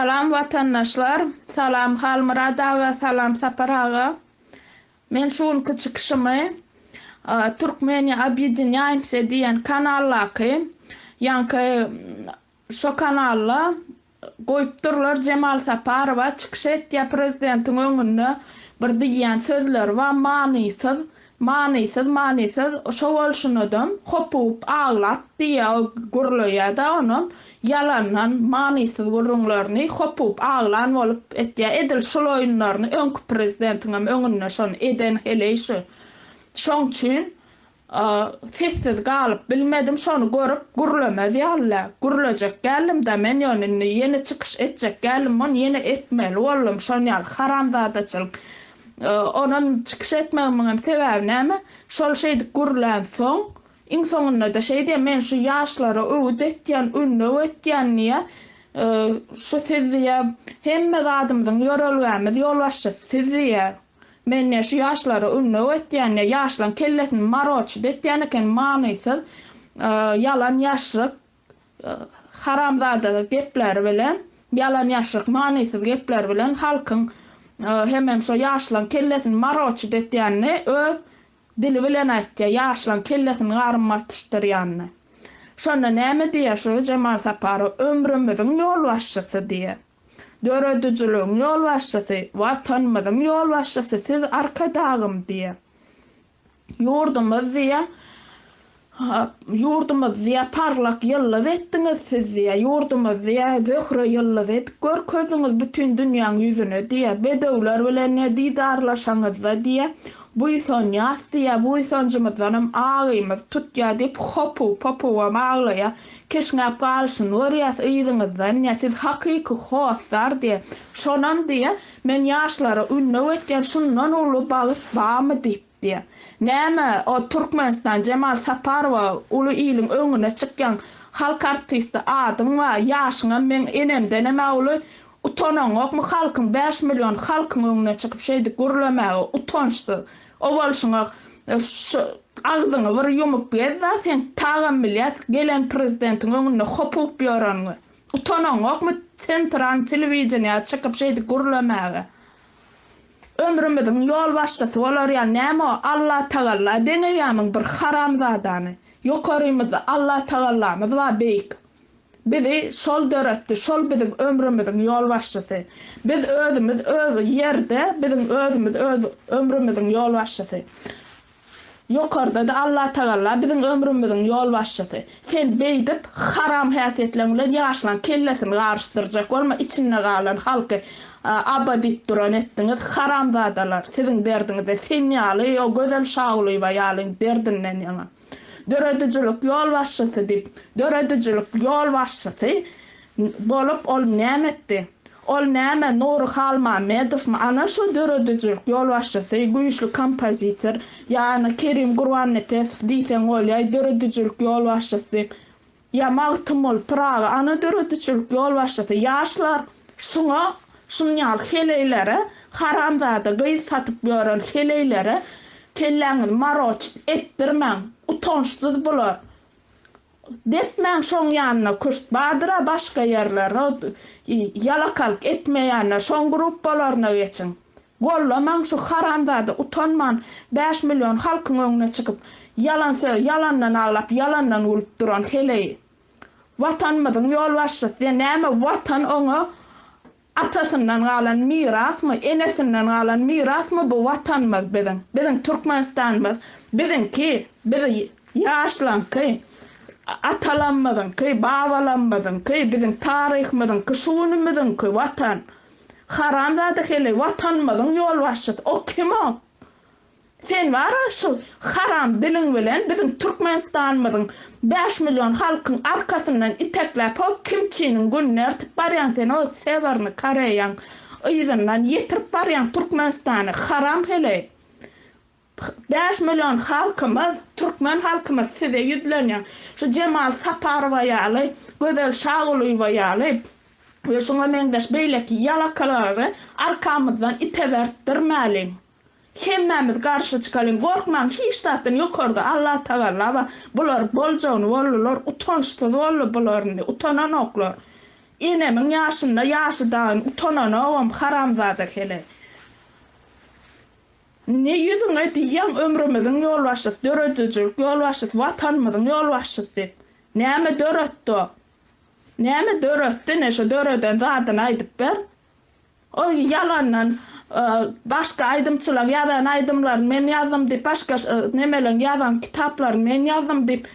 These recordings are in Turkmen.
Salam watandaşlar, salam Halmyrat aga, salam Sapar aga. Men şu günki çykyşymy Turkmeniýa obýedinýaýmse diýen kanaldaky, ýaňky şo kanalda goýup durlar Jemal Saparowa çykyş etýär prezidentiň öňünde bir diýýän sözleri bar manysyz Manysyz manysyz şo bolşunadam kopup aglap diýýä gürleýädä onam ýalandan manysyz gürrüňlerini kopup aglan bolup etýä edil şul oýunlaryny öňki prezidentiňem öňünde şony eden heleý şu şoň üçin sessiz galyp bilmedim şony görüp gürlemez ýalylä gürlejek däldimdä men ýöne indi ýene çykyş etjek däldim ony ýene etmeli boldum şon ýaly haramzadaçylyk Onam çykyş etmegimiňem sebäbi näme? Şol şeýdip gürlänsoň, iň soňunda-da şeý diýýär, Men şu ýaşlara öwüt etýän, ündew etýän diýýär. Şu siz diýýär, hemme zadymyzyň ýörelgämiz, ýolbaşçysy siz diýýär. Men diýýär, şu ýaşlara ündew etýän diýýär. Ýaşlaryň kellesini maroçut etýän eken, manysyz, ýalan ýaşryk. haramzada gepleri bilen, ýalan-ýaşryk, manysyz gepleri bilen halkyň hemem şo ýaşlaň kellesini maroçit etýänini öz dili bilen aýtýar, ýaşlaň kellesini garym basyşdyrýanyny. Şonda näme diýýär şu Jemal Saparow, ömrümiziň ýolbaşçysy diýýär. Döredijiligiň ýolbaşçysy, Watanymyzyň ýolbaşçysy siz Arkadagym diýýär. Ýurdumyz diýe Ýurdumyz diýe parlak ýyldyz etdiňiz siz diýe Ýurdumyz diýe Zöhre ýyldyz edip görkezdiňiz bütin dünýäň ýüzüne diýe Bedewler bilen ne didarlaşaňyzda diýe Buýsanýas diýe Buýsanjymyzdanam agymyz tutýa diýip hopuw-popuwam aglaýa Keşňäp galyşyny görýäs yzyňyzdan diýe Siz hakyky hossar diýe Şonam diýe Men ýaşlara ündew etýän şundan uly bagt barmy diýipdi. Näme, o Türkmenistan Jemal Saparowa uly iliň öňüne çykýaň, halk artisti adyň bar, ýaşyňam meň enemdenem-ä uly, utanaňokmy halkyň bäş million halkyň öňüne çykyp şeýdip gürlemäge, utançsyz. O bolşuňa şu agzyňy bir ýumup gez-da, seň tagam bilýäs gelen prezidentiň öňünde hopup ýöreniňi. Utanaňokmy Centran telewideniýä çykyp şeýdip gürlemäge? Ömrümiziň ýolbaşçysy bolar ýaly näme o Allatagalla deňeýämiň bir haramzadany? Ýokarymyzda Allatagallamyz bar beýik. Bizi şol döretdi, şol biziň ömrümiziň ýolbaşçysy. Biz özümiz öz ýerde biziň özümiz öz ömrümiziň ýolbaşçysy. Ýokarda-da Allatagalla biziň ömrümiziň ýolbaşçysy. Sen beýdip, haram häsiýetleň bilen ýaşlaň kellesini garyşdyrjak bolma, içinde galan halky aba diýip duran etdiňiz. Haramzadalar, siziň derdiňize sen ýaly, o Gözel Şagulyýewa ýalyň derdinden ýaňa. Döredijilik ýolbaşçysy diýip, döredijilik ýolbaşçysy Bolup ol näme etdi? Ol näme, Nury Halmämmedowmy? Ana şo döredijilik ýolbaşçysy, güýçli kompozitor, ýa-na Kerim Gurbannepesow diýseň bolýaý, döredijilik ýolbaşçysy, ýa Magtymguly Pyragy, ana döredijilik ýolbaşçysy. Ýaşlar şuňa, şunýaly heleýlere, haramzada gyz satyp ýören heleýlere kelläňizi maroçit etdirmäň. Utançsyz bular. Depmäň şoň ýanyna küşt bardyra başga ýerler o ýalakalyk etmeýänler şoň gruppalaryna geçiň gollamaň şu haramzada utanman bäş million halkyň öňüne çykyp ýalan söz ýalandan aglap ýalandan gülüp duran heleý watanymyzyň ýolbaşçysy näme watan oňa Atasyndan galan mirasmy, enesinden galan mirasmy bu Watanymyz biziň, biziň Türkmenistanymyz, biziňki, biz ýaşlaňky, atalamyzyňky, babalamyzyňky, biziň taryhymyzyňky, şu günümiziňki Watan. Haramzada heleý Watanymyzyň ýolbaşçysy, o kim o? Sen bar-a şu haram diliň bilen biziň Türkmenistanymyzyň bäş million halkyň arkasyndan itekläp ho kimçiniň gününi ertip barýaň sen o Sewernyý Koreýaň yzyndan ýetirip barýaň Türkmenistany haram heleý bäş million halkymyz Türkmen halkymyz size ýüzlenýär şu Jemal Saparowa ýaly Gözel Şagulyýewa ýaly we şuňa meňzeş beýleki ýalakalary arkamyzdan itebertdirmäliň. Hemmämiz garşy çykalyň gorkmaň hiç zatdan ýokarda Allah tagalla bar bular boljagyny boldular utançsyz boldy bular indi utananoklar enemiň ýaşynda ýaşy dagyn utananogam haramzada heleý ne ýüzüňe diýýäň ömrümiziň ýolbaşçysy döredijilik ýolbaşçysy watanymyzyň ýolbaşçysy näme döretdi o näme döretdi ine şo döreden zadyny aýdyp ber Ol ýalandan başga aýdymçylaň ýazan aýdymlaryny men ýazdym diýip başga nemeleň ýazan kitaplaryny men ýazdym diýip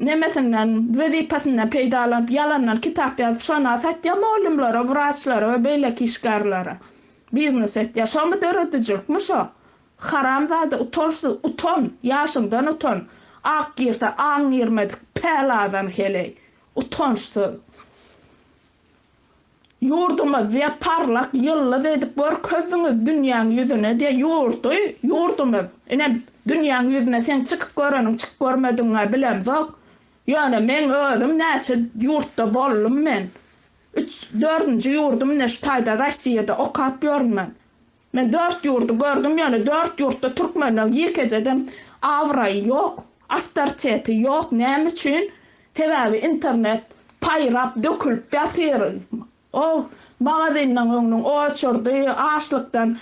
nemesinden wezipesinden peýdalanyp ýalandan kitap ýazyp şona satýa molymlara wraçlara we beýleki işgärlere biznes etýa şomy döredijilikmi şo haramzada utançsyz utan ýaşyňdan utan ak girse aň girmedik päl adam heleý utançsyz. Ýurdumyz diýe parlak ýyldyz edip görkezdiňiz dünýäň ýüzüne diýe ýurdy, ýurdumyz. Ine, dünýäň ýüzüne seň çykyp göreniň, çyk görmedigiň-ä bilemzok. Ýöne meň özüm näçe ýurtda boldum men. Üç, dördünji ýurdum ine şu taýda Rossiýada okap ýörün men. Men dört ýurdy gördüm ýöne dört ýurtda türkmenden ýekejedem abraýy ýok, awtoriteti ýok näme üçin sebäbi internet paýrap dökülip ýatyr ow magazynyň öňüniň oçurdy açlykdan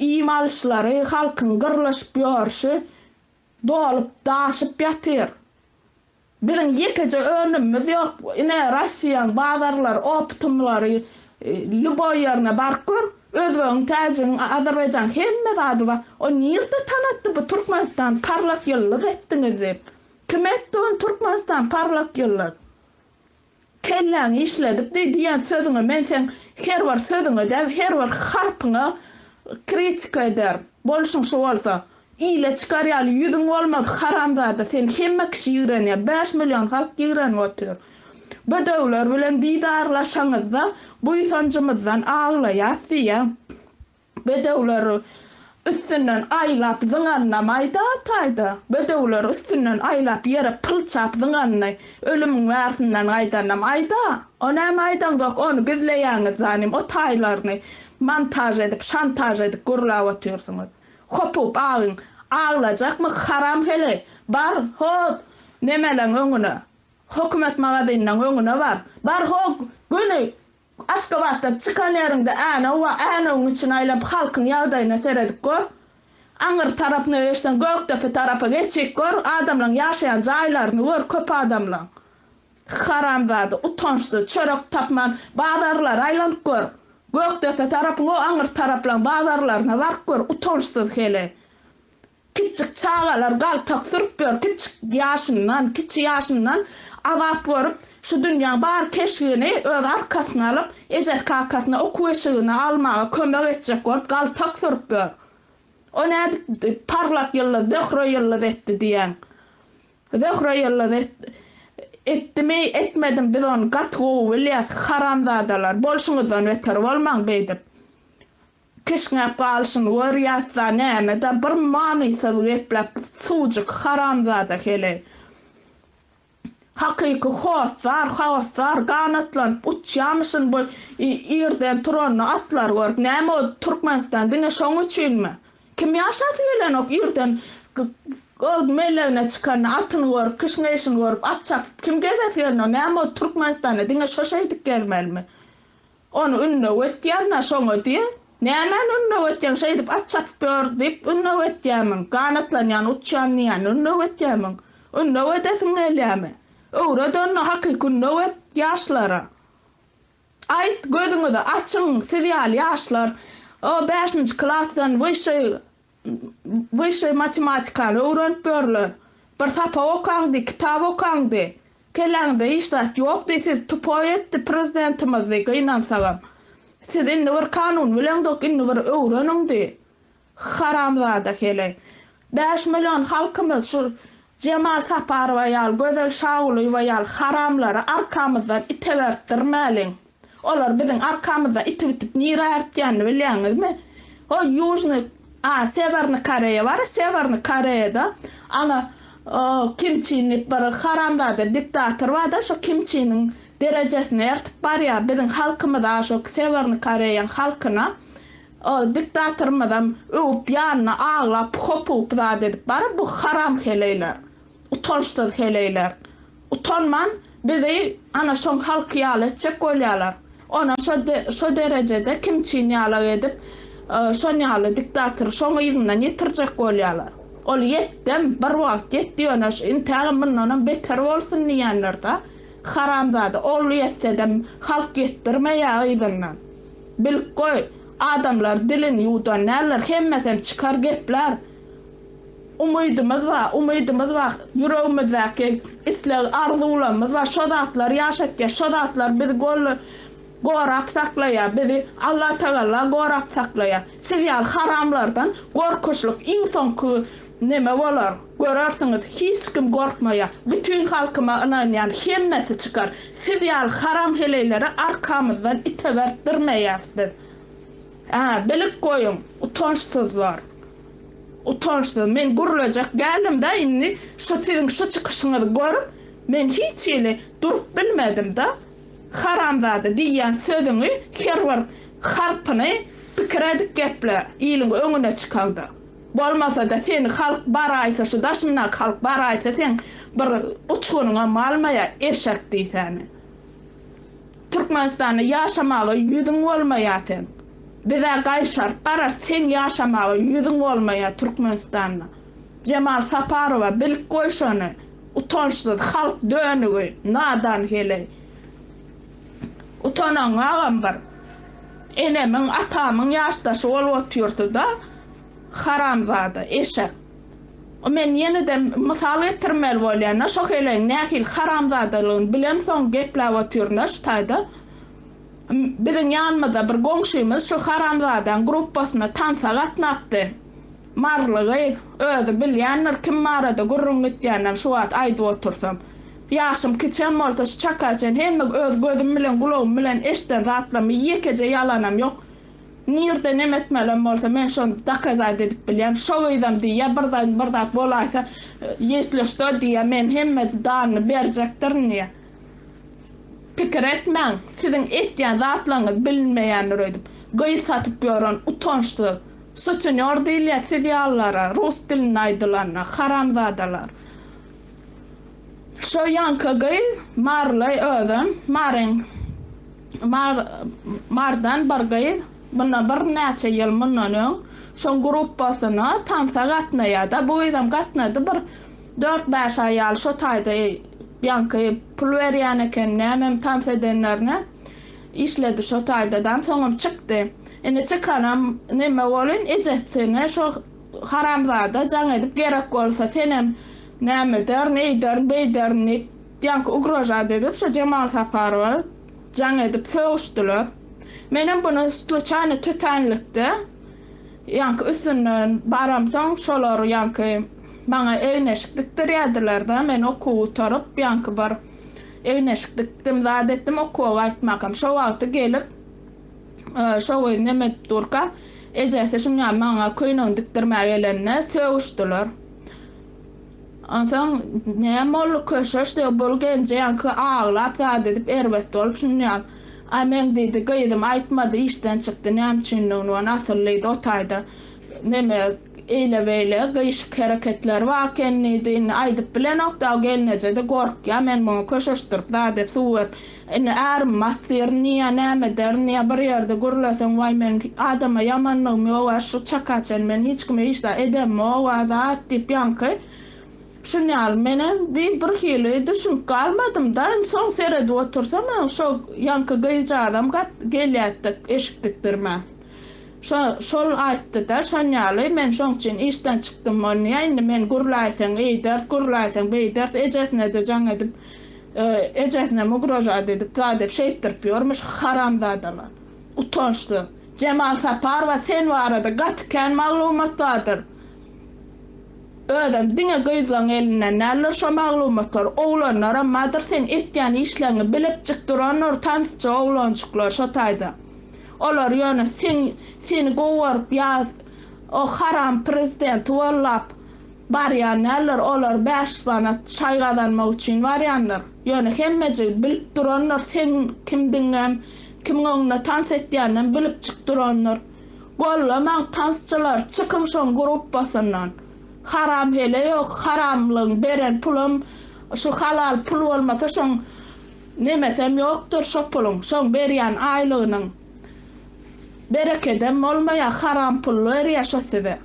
iým alyşlary halkyň gyrlaşyp ýörşi dolup daşyp ýatyr Biziň ýekeje önümimiz ýok. Ine Rossiýaň bazarlary, optumlary lýuboý ýerine baryp gör, özbegiň, täjigiň, azerbaýjanyň hemme zady bar. Ony nirde tanatdy bu Türkmenistany parlak ýyldyz etdiňiz diýip? Kim etdi ony Türkmenistany parlak ýyldyz? Kelläňi işledip diý diýen sözüňe men seň her bir sözüňe däl her bir harpyňa kritika ederin. Bolşuň şu bolsa. Ile çykar ýaly ýüzüň bolmaz haramzada seni hemme kişi ýigrenýär bäş million halk ýigrenip otyr. Bedewler bilen didarlaşaňyzda buýsanjymyzdan aglaýas diýýäň. Bedewler üstünden aýlap zyňanyna maýda ataýda, bedewler üstünden aýlap ýere pylçap zyňanyny ölümiň bärsinden gaýdanam aýda. O näme aýdaňzok, ony gizleýäňiz zanim, o taýlaryny montaž edip, şantaž edip gürläp otyrsyňyz. Hopup agyň, aglajakmy haram heleý, bar, ho, nemeleň öňüne, hökümet magazynynyň öňüne bar, bar, ho, göni, Aşgabatdan çykan ýeriňde Änew bar, Änewiň içini aýlap halkyň ýagdaýyna seredip gör. Aňyr tarap nöeşden Gökdepe tarapa geçip gör, adamlaň ýaşaýan jaýlaryny gör, köp adamlaň. Haramzada, utançsyz, çörek tapman bazarlara aýlanyp gör. Gökdepe tarapyň o aňyr taraplaň bazarlaryna baryp gör, utançsyz heleý. Kiçjik çagalar galtak sürüp ýör, kiçjik ýaşyndan, kiçi ýaşyndan azap görüp, şu dünýäň bar keşgini öz arkasyna alyp, ejesi-kakasyna okuw-eşigini almaga kömek etjek bolup galtak sürüp ýör. O nädip parlak ýyldyz, Zöhre ýyldyz etdi diýýäň? Zöhre ýyldyz et, etdimi, etmedimi biz ony gaty gowy bilýäs, haramzadalar, bolşuňyzdan beter bolmaň beýdip. Kişňäp galşyny gör ýatsa nämedä bir manysyz gepläp suwjyk haramzada heleý. Hakyky hossar haossar ganatlanyp uçýamyşyn bu irden turanda atlar görüp näme o Türkmenistan diňe şoň üçinmi? Kim ýaşasy gelenok irden öz melegine çykanda atyny görüp kişňeýşini görüp at çapyp kim gezesi gelenok näme o Türkmenistanda diňe şo şeýdip gezmelimi? Ony ündew etýärmä şoňa diý. Nämäni ündew etýäň, şeýdip at çapyp ýör diýip ündew etýärmiň? Ganatlanýan, uçýan diýýän ündew etýärmiň? Ündew edesiň gelýärmi? Öwret onda hakyky ündew et ýaşlara. Aýt, gözüňizi açyň, siz ýaly ýaşlar o bäşinji klasdan wyşşeý Wyşşeý matematikany öwrenip ýörler. Bir sapak okaňdy, kitap okaňdy. Kelläňde hiç zat ýokdy, siz tupoý etdi prezidentimizdi gynansagam. Siz indi bir kanun bileňzok, indi bir öwreniňdi. Haramzada heleý. Bäş million halkymyz şu Jemal Saparowa ýaly, Gözel Şagulyýewa ýaly haramlary arkamyzdan itebertdirmäliň. Olar biziň arkamyzda itip-itip nirä artýanyny bilýäňizmi? O Ýužnyý a Sewernyý Koreýa bar, Sewernyý Koreýada ana o Kim Çin diýip bir haramzada diktator bar-da, şo Kim Çiniň derejesine ertip barýar. Biziň halkymyz a şo Sewernyý Koreýaň halkyna o diktatorymyzam öwüp ýanyna aglap hop-hup zat edip barar. Bu haram heleýler. Utançsyz heleýler. Utanman bizi ana şoň halky ýaly etjek bolýalar. Ona şo derejede kim çyn ýalak edip şon ýaly diktatory şoň yzyndan ýetirjek bolýalar. Ol ýetdem bir wagt ýetdi ýöne intägem mundanam beter bolsun diýendirda haramzada ol ýetsedem halk ýetdirmeýä yzyndan. Bilip goý adamlar dilin ýuwdan däldir hemmesem çykar gepler. Umydymyz bar, umydymyz bar, ýüregimizdäki isleg, arzuwlarymyz bar, şo zatlar ýaşatýar, şo zatlar bizi golla gorap saklaýar, bizi Allatagalla gorap saklaýar. Siz ýaly haramlardan gorkuşlyk iň soňky neme bolar, görersiňiz, hiç kim gorkmaýar, bütin halkyma ynanýan, hemmesi çykar, siz ýaly haram heleýlere arkamyzdan itebertdirmeýäs biz. Hä, bilip goýuň, utançsyzlar. Utançsyz. Men gürlejek däldim-dä indi şu siziň şu çykyşyňyzy görüp, men hiç hili durup bilmedim-dä. Haramzada diýýän sözüňi her bir harpyny pikir edip geple, iliň öňüne çykaňda. Bolmasa-da seni halk baraýsa, şu daşyndaky halk baraýsa seň bir uçgunyňam almaýar, eşek diýsäni. Türkmenistanda ýaşamaga ýüzüň bolmaýa seň. Bizä gaýyşaryp garar seň ýaşamaga ýüzüň bolmaýa Türkmenistanda. Jemal Saparowa bilip goý şony utançsyz halk dönügi nadan heleý. Utanaň agam bir. Enemiň atamyň ýaşdaşy bolup otyrsyda haramzada eşek. Men ýene-de mysal getirmeli bolýan-da, şo helegiň nähili haramzadalygyny bilemsoň gepläp otyryn-da şu taýda. Biziň ýanymyzda bir goňşymyz şu haramzadaň gruppasyna tansa gatnapdy. Maryly gyz, özi bilýändir kim barada gürrüň gitýändigini şu wagt aýdyp otursam. Ýaşym kiçem bolsa şu çaka çen hemme öz gözüm bilen, gulagym bilen eşden zatlarymy ýekeje ýalanam ýok. Nirde nem etmelem bolsa men şony dakazaýt edip bilýän şo gyzam diýýä bir zaýn bir zat bolaýsa ýesli şto diýýä men hemme danyny berjekdirin diýýä pikir etmäň siziň etýän zatlaryňyz bilinmeýändir öýdüp gyz satyp ýören utançsyz sutenýor diýilýä siz ýalylara rus dilinde aýdylanda haramzadalar. Şo ýaňky gyz Marylaý özem. Maryň Mar Mardan bir gyz mundan bir näçe ýyl mundan öň şoň gruppasyna tansa gatnaýada bu gyzam gatnady bir dört bäş aý ýaly şo taýda ýaňky pul berýän eken nämem tans edenlerine işledi şo taýdadam soňam çykdy indi çykanam neme bolyn ejesine şo haramzada jaň edip gerek bolsa senem Näme ederin, eýderin, beýderin diýip, ýaňky ugrožat edip, şo Jemal Saparowa jaň edip sögüşdiler. Menem buny sluçaýno tötänlikde ýaňky üstünden baramsoň, şolar ýaňky maňa egneşik dikdirýärdiler-de, men okuw gutaryp, ýaňky bir egneşik dikdim, zat etdim, okuwa gaýtmakam. Şo wagty gelip, şo gyz neme edip durka, ejesi şuňa maňa köýnegini dikdirmäge gelende sögüşdiler. Onsoň näme boldy köşeş diýip bul genje ýaňky aglap zat edip erbet bolup şunýam Aý meň diýdi gyzym aýtmady işden çykdy näme üçindigini ony asyl diýdi o taýda neme eýle beýle gyýşyk hereketleri bar eken diýdi indi aýdyp bilenok daw gelneje-de gorkýa men muňa köşeşdirip zat edip suw berip Indi ärim basdyr, niýe, näme eder, niýe bir ýerde gürleseň, waý meň adama ýamanlygym ýog-a, şu çaka çen men hiç kime hiç zat edemog-a zat diýip ýaňky şun ýaly menem bi bir hili düşünip galmadym-da, indi soň seredip otursam hem şo ýaňky gyzjagazam gat gelýärdi-de eşik dikdirmän. Şo şol aýtdy-da, şon ýaly men şoň üçin işden çykdym, ony indi men gürläýseň eýders, gürläýseň beýders, ejesine-de jaň edip, Ejesinem ugrožat edip zat edip şeýtdirip ýörmüş haramzadalar. Utançsyz. Jemal Saparowa sen barada gaty kän maglumat bardyr. Özem diňe gyzlaň elinden däldir şo maglumatlar. Oglanlaram badyr seň etýän işleňi bilipjik durandyr tansçy oglanjyklar şo taýda. Olar ýöne seň seni gowy görüp ýa o haram prezidenti gollap Barýan däldir, olar bäş manat çaý gazanmak üçin barýandyr. Ýöne hemme jigit bilip durandyr, seň kimdigiňem, kimiň öňünde tans etýäninem bilip çyk durandyr. Gollamaň tansçylary, çykyň şoň gruppasyndan. Haram hele ýok, haramlygyň beren pulam şu halal pul bolmasa şoň nemesem ýokdur şo puluň, şoň berýän aýlygynyň berekedem bolmaýar, haram pul berýär şo size.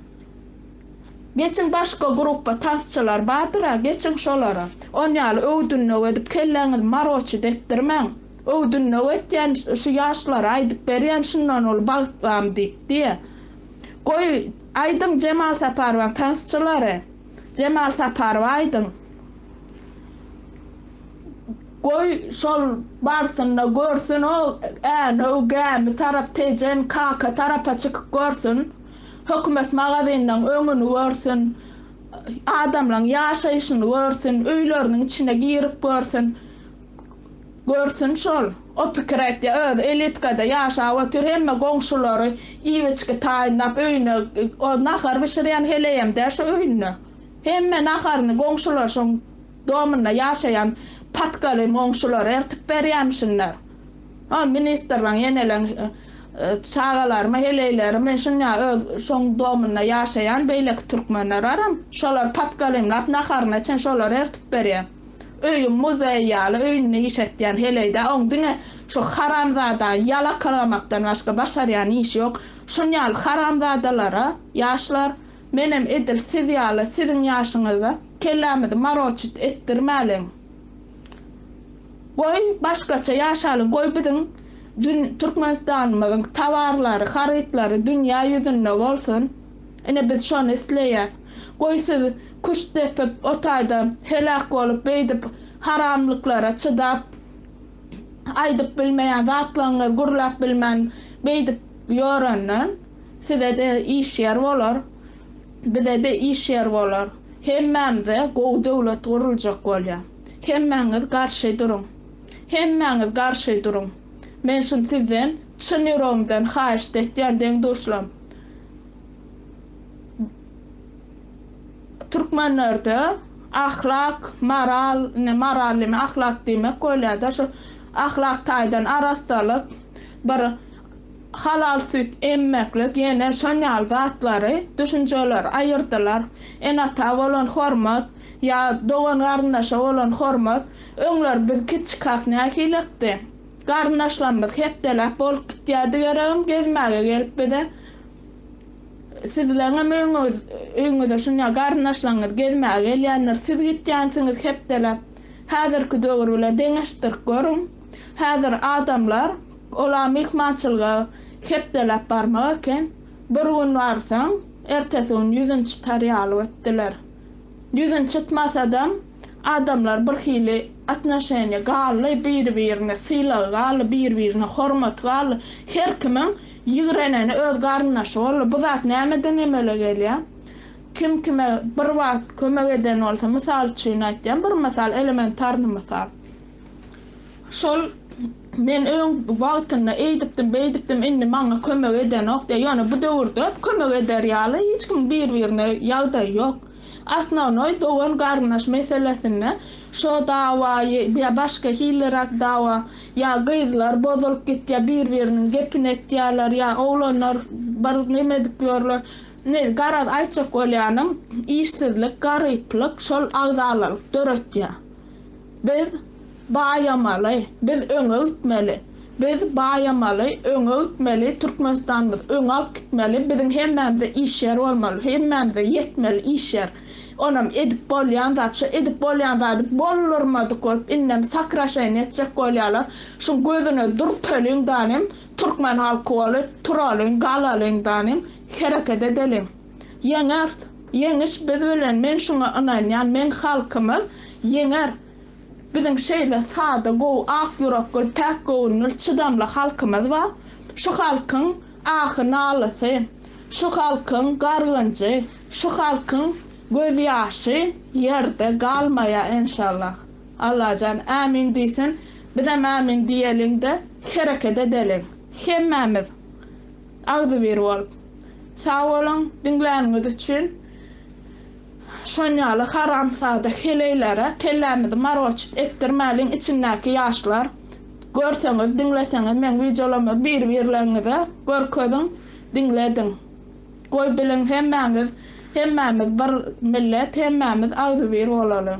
Geçiň başga gruppa tasçylar bardyra geçiň şolara on ýaly öwdünlew edip kelläňiz maroçit etdirmäň öwdünlew etýän şu ýaşlara aýdyp berýän şundan uly bagt bamy diýip diýe goý aýdyň Jemal Saparowaň tasçylary Jemal Saparowa aýdyň goý şol barsynda görsün o Änew Gämi tarap Tejen Kaka tarapa çykyp görsün. Hökümet magazynynyň öňüni görsün, adamlaryň ýaşaýşyny görsün, öýleriniň içine girip görsün. Görsün şol. O pikir etýär. Özi elitkada ýaşap otyr, hemme goňşulary iýip-içgi taýynlap öýüne, o nahar bişirýän heleýem däl şo öýünde. Hemme naharyny goňşular şoň Domunda ýaşaýan patkaly goňşular ertip berýämişinler. Ol ministrlaň ýeneleň çagalarymy, heleýlerimi, şuňa öz şoň domunda ýaşaýan beýleki türkmenler baram, şolar patkalymlap naharyna çen şolar ertip berýär. Öýüň muzeý ýaly öýünde iş etýän heleýde oň diňe şu haramzadaň ýalakalamakdan başga başarýan işi ýok. Şun ýaly haramzadalara ýaşlar. Menem edil siz ýaly siziň ýaşyňyzda kellämizi maroçit etdirmäliň. Goý başgaça ýaşalyň goý biziň dün Türkmenistanymyzyň tawarlary harytlary dünýä ýüzünde bolsun ine biz şony isleýäs. Goý siz küşt depip o taýda heläk bolup beýdip haramlyklara çydap. aýdyp bilmeýän zatlaryňyzy gürläp bilmän beýdip ýörenden size-de iş ýer bolar, bize-de iş ýer bolar. Hemmämize gowy döwlet guruljak bolýar. Hemmäňiz garşy duruň. Hemmäňiz garşy duruň. Men şuny sizden çyn ýüregimden haýyşt etýän deň-duşlam. Türkmenlerde ahlak, moral, indi moral diýmek ahlak diýmek bolýar-da, şu ahlak taýdan arassalyk, bir halal süýt emmeklik, ýene şon ýaly zatlary, düşünjeleri aýyrdylar. Ene-ata bolan hormat, ýa dogan-garyndaşa bolan hormat, öňler biz kiçikak nähilekdi? Garyndaşlarymyz hepdeläp bolup gitýärdi geregem, gezmäge gelip bize. Sizleňem öýňüz, öýňüze şunýa garyndaşlaňňyz gezmäge gelýändir. Siz gitýänsiňiz hepdeläp. Häzirki döwür bilen deňeşdirip görüň. Häzir adamlar ola myhmançylyga hepdeläp barmak eken. Bir gün barsaň, ertesi gün ýüzün çytar ýaly bötdüler. Ýüzün çytmasadam. Adamlar bir hili atnoşeniýa gally, biri-birine sylag gally, biri-birine hormat gally. Her kimiň ýigreneni öz garyndaşy boldy. Bu zat nämeden emele gelýär? Kim kime bir wagt kömek eden bolsa, mysal üçin aýtýan, bir mysal, elementarny mysal. Şol men öň wagtynda eýdipdim, beýdipdim, indi maňa kömek edenok diýýär. Ýöne bu döwürde kömek eder ýaly hiç kimiň biri-birine ýagdaýy ýok. Osnovnoý dogan-garyndaş meselesinde şo dawaýy ýa başga hiliräk dawa, ýa gyzlar bozulyp gitýär, bir-biriniň gepini etýärler, ýa oglanlar bir nemedik ýörler. Indi garaz aýtjak bolýanym, işsizlik, garyplyk şol agzalalyk döretýär. Biz baýamaly, biz öňe gitmeli, biz baýamaly, öňe gitmeli, Türkmenistanymyzy öňe alyp gitmeli, biziň hemmämize işýer bolmaly, hemmämize ýetmeli işýer. Onam edip bolýan zat, şo edip bolýan zady boldurmadyk bolup indem sakraşaýyn etjek bolýarlar, şuň gözüne dürteliň danym, türkmen halky bolup turalyň, galalyň danym, hereket edeliň. Ýeňer! Ýeňiş biz bilen men şuňa ynanýan men halkymyz ýeňer biziň şeýle sada gowy ak ýurekgül päk gowünül çydamly halkymyz bar şu halkyň ahy nalysy şu halkyň gargynjy şu halkyň göz ýaşy ýerde galmaýa enşallah Allajan ämin diýsin bizem ämin diýeliňde hereket edeliň hemmämiz Agzybir bolup. Sag boluň diňläniňiz üçin. Şon ýaly haramzada heleýlere kellämizi margoçut etdirmäliň içindäki ýaşlar. Görseňiz diňleseňiz meň wideolarmy bir birleňize görkeziň diňlediň. Goý biliň hemmäňiz hemmämiz bir millet hemmämiz agzybir bolalyň.